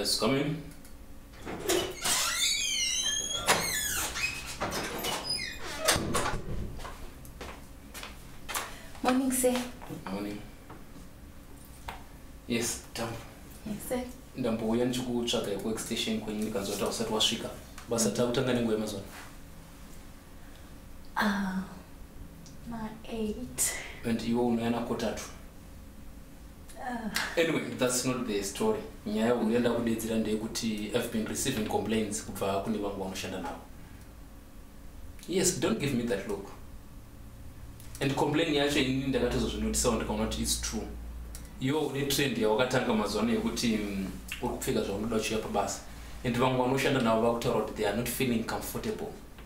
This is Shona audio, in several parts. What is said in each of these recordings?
Yes, come in. Morning, sir. Morning. Yes, Tam. Yes, sir. Ndambouya ndichikutsvaga yekuwork station kwenyu ndikanzwa kuti hausati wasvika. Basa mm. takutanga nenguva yemazuva. Ah, ma eight. And iwe unouya nakotatu. anyway that's not the story nyaya uyu yanda kudedzera ndeyekuti i've been receiving complaints kubva kune vangu vanoshanda navo yes don't give me that look and complain yacho ini ndakatozozvinotisawo ndikaona kuti its true iwo une trend yawakatanga mazuva ano yekuti mm, uri kupfeka zvaunoda uchiuya pabasa and vamwe vanoshanda navo vakutaura kuti they are not feeling comfortable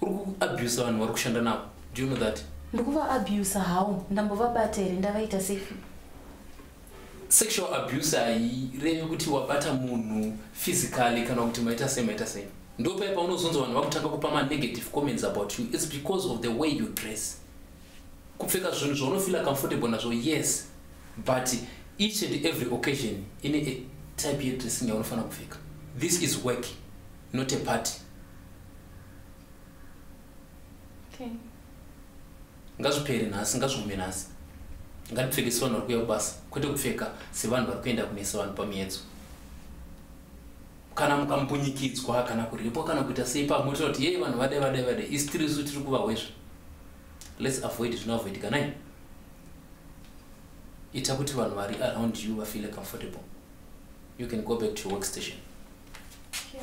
uri kuabusa vanhu vari kushanda navo do you know that ndikuvaabuse hawo ndambovabata here ndavaita sefi sexual abuse hairevi kuti wabata munhu physically kana kuti maita sei maita sei ndo paye paunozonza vanhu vakutanga kupa manegative comments about you its because of the way you dress kupfeka zvinhu zvaunofila comfortable nazvo yes but each and every occasion ine a type yedressing yaunofanira kupfeka this is work not a party okay. ngazvipere nhasi ngazvigume nhasi ngatipfeke sevanhu vari kuuya kubasa kwete kupfeka sevanhu vari kuenda kumesa vanhu pamiedzo kana mukamupunyikidzwa kana kuripwa kana kuita sei pamwe tira kuti yei vanhu vade vade vade isitirisu tiri kuvahwezva let's avoid zvinoavoidika nai ita kuti vanhu vari around you vafeele comfortable you can go back to your work station sure.